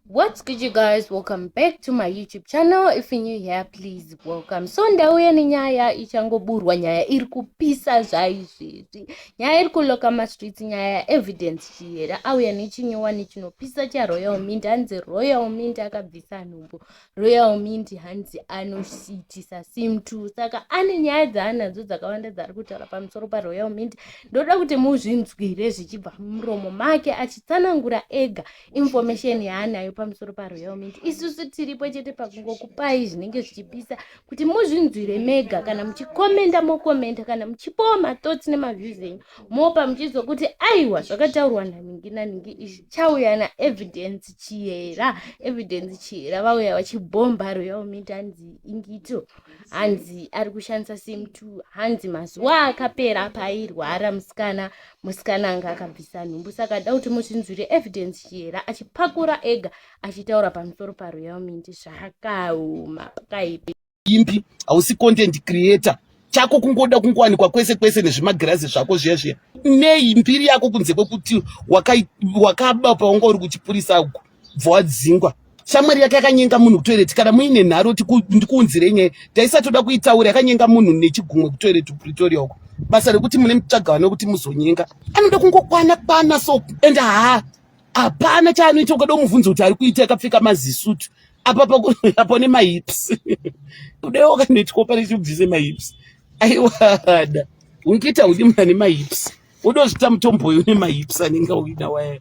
what's good you guys welcome back to my youtube channel if you're new here please welcome so ndauya nenyaya ichangoburwa nyaya iri kupisa zvaizvezvi nyaya iri kuloka mastreets nyaya yaevidence chiyera auya nechinyowani chinopisa charoyal mint hanzi royal mint akabvisa nhumbu royal mint hanzi anoitisa sim two saka ane nyaya dzaanadzo dzakawanda dzaari kutaura pamusoro paroyal mint ndoda kuti muzvinzwire zvichibva muromo make achitsanangura ega information yaanayo pamusoro paroyal mint isusu tiripo chete pakungokupai zvinenge zvichipisa kuti muzvinzwire mega kana muchikomenda mokomenda kana muchipowa mathoughts nemaviews enyu mopa muchiziva kuti aiwa zvakataurwa naningi naningi izvi chauya naevidence chiyera evidence chiyera vauya vachibhomba royal meat hanzi ingito hanzi ari kushandisa sim t hanzi mazuva akapera paairwara musikana musikana anga akabvisa nhumbu saka da kuti mutinzwire evidence chiyera achipakura ega achitaura pamusoro paroyal meat zvakaoma pakaipi imbi hausi content creator chako kungoda kungowanikwa kwese kwese nezvimagirazi zvako zviya zviya nei mbiri yako kunze kwekuti wakaba paunga uri kuchipurisa uku bva wadzingwa shamwari yake yakanyenga munhu kutoireti kana muine nharo ndikuunzirei nyaya taisatoda kuitaura yakanyenga munhu nechigumwe kutoireti kupretoria uko basa rekuti mune mitsvagano kuti muzonyenga anoda kungokwana kwana so and haa hapana chaanoita ukada umubvunza kuti ari kuita akapfeka mazisutu apa pakuapo nemahips udewo kanoitwa pane chibvise mahips aiwada ungiita udi muna nemahips udozvita mutombo uyu nemahips anenge uida waya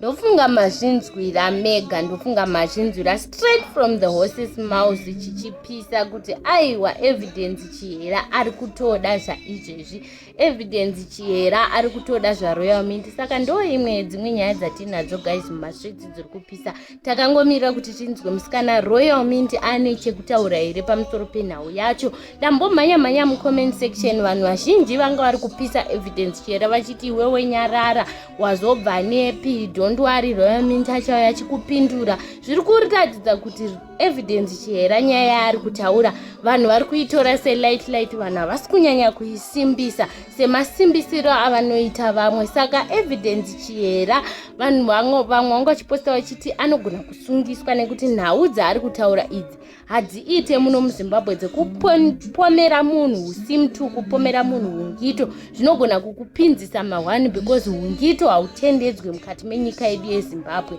ndofunga mazvinzwira mega ndofunga mazvinzwira straight from the horses mouth chichipisa kuti aiwa evidence chihera ari kutoda zvaizvezvi evidence chihera ari kutoda zvaroyal mint saka ndo imwe dzimwe nyaya dzatiinadzo guys mumastreets dziri kupisa takangomirira kuti tinzwe musikana royal mint ane chekutaura here pamusoro penhau yacho ndambomhanya mhanya mucomment section vanhu vazhinji vanga vari kupisa evidence chihera vachiti iwewe nyarara wazobva nepi dondwari royal mint achauya chikupindura zviri kuratidza kuti evidence chihera nyaya yaari kutaura vanhu vari kuitora selight light vanhu havasi kunyanya kuisimbisa semasimbisiro avanoita vamwe saka evidence chihera vanhu vamwe vanga vachiposta vachiti anogona kusungiswa nekuti nhau dzaari kutaura idzi hadziite muno muzimbabwe dzekupomera munhu usimtu kupomera munhu ungito zvinogona kukupinzisa mahwani because ungito hautendedzwe mukati menyika yedu yezimbabwe